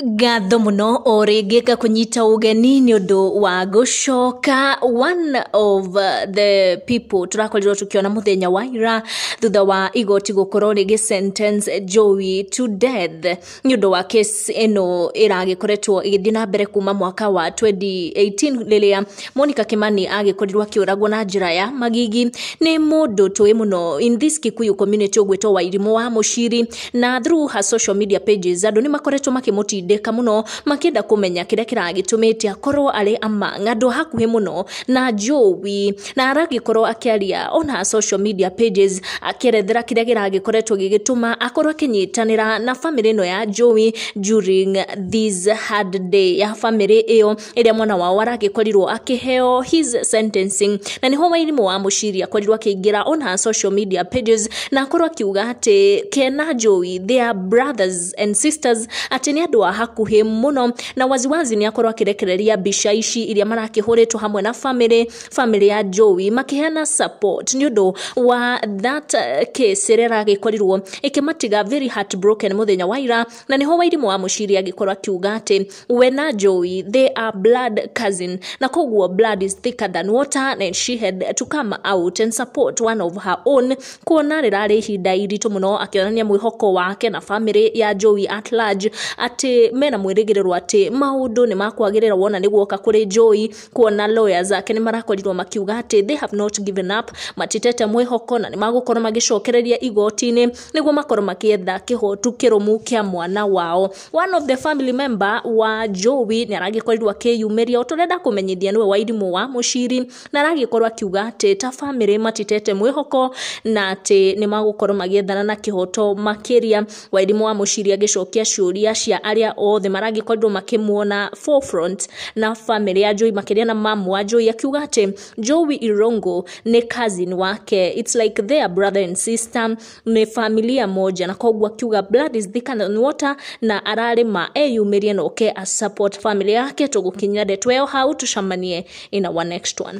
ngatho mũno o rĩngĩ ngakũnyita ũgeni nĩ ũndũ wa gũcoka one of the people tũrakorirwo tũkĩona mũthenya wa ira thutha wa igoti gũkorwo rĩgĩ sentence Joey to death nĩ ũndũ wa case ĩno ĩragĩkoretwo ĩgĩthiĩ na mbere kuma mwaka wa 2018 rĩrĩa Monica Kimani agĩkorirwo akĩũragwo na njĩra ya magigi nĩ mũndũ tũĩ mũno in this Kikuyu community ũgwĩtwo Wairimũ wa Mũciri na through her social media pages andũ nĩ makoretwo makĩmũtindĩka mũno makĩenda kũmenya kĩrĩa kĩragĩtũmĩte akorwo arĩ among andũ a hakuhĩ mũno na Jowi na aragĩkorwo akĩaria on her social media pages akĩerethera kĩrĩa gĩragĩkoretwo gĩgĩtũma akorwo akĩnyitanĩra na famĩlĩ ĩno ya Jowi during this hard day ya famĩlĩ ĩyo ĩrĩa mwana wao aragĩkorirwo akĩheo his sentencing na nĩho wairimũ wa mũciri akorirwo akĩingĩra on her social media pages na akorwo akiuga atĩ kena njũi they are brothers and sisters atĩ nĩ andũ a hakuhĩ mũno na waziwazi nĩ akorwo akĩrekereria mbica ici iria marakĩhũrĩtwo hamwe na family family ya njũi makĩheana support nĩ ũndũ wa that uh, case ĩrĩa ĩragĩkorirwo ĩkĩmatiga very heartbroken mũthenya wa ira na nĩho wairimũ wa mũciri angĩkorwo akiuga atĩ we na njũi they are blood cousin na koguo blood is thicker than water and she had to come out and support one of her own kuona rĩrarĩ ihinda iritũ mũno akĩonania mwĩhoko wake na famĩrĩ ya njũi at large atĩ mena mwĩrĩgĩrĩro atĩ maũndũ nĩ makwagĩrĩra wona nĩ guoka kũrĩ njũi kuona lawyers ake nĩ marakorirwo makiuga atĩ they have not given up matitete mwĩhoko na nĩ magũkorwo magĩcokereria igoti-inĩ nĩguo makorwo makĩetha kĩhotu kĩrũmu kĩa mwana wao. One of the family member wa Jowi nĩ aragĩkorirwo akĩyumĩria, tũrenda kũmenyithia nĩwe Wairimũ wa Mũciri, na aragĩkorwo akiuga atĩ ta bamĩrĩ matitete mwĩhoko na atĩ nĩ magũkorwo magĩethana na kĩhoto makĩria. Wairimũ wa Mũciri agĩcokia ciũria cia arĩa othe maragĩkorirwo makĩmuona forefront na bamĩrĩ ya Jowi makĩria na mamu wa Jowi, akiuga atĩ Jowi Irongo nĩ cousin wake it's like they are brother and sister nĩ familia moja na koguo akiuga blood is thicker than water na ararĩma eyumĩrie na oke a support family yake tũgũkinyia ndeto ĩyo hau tũcemanie in our next one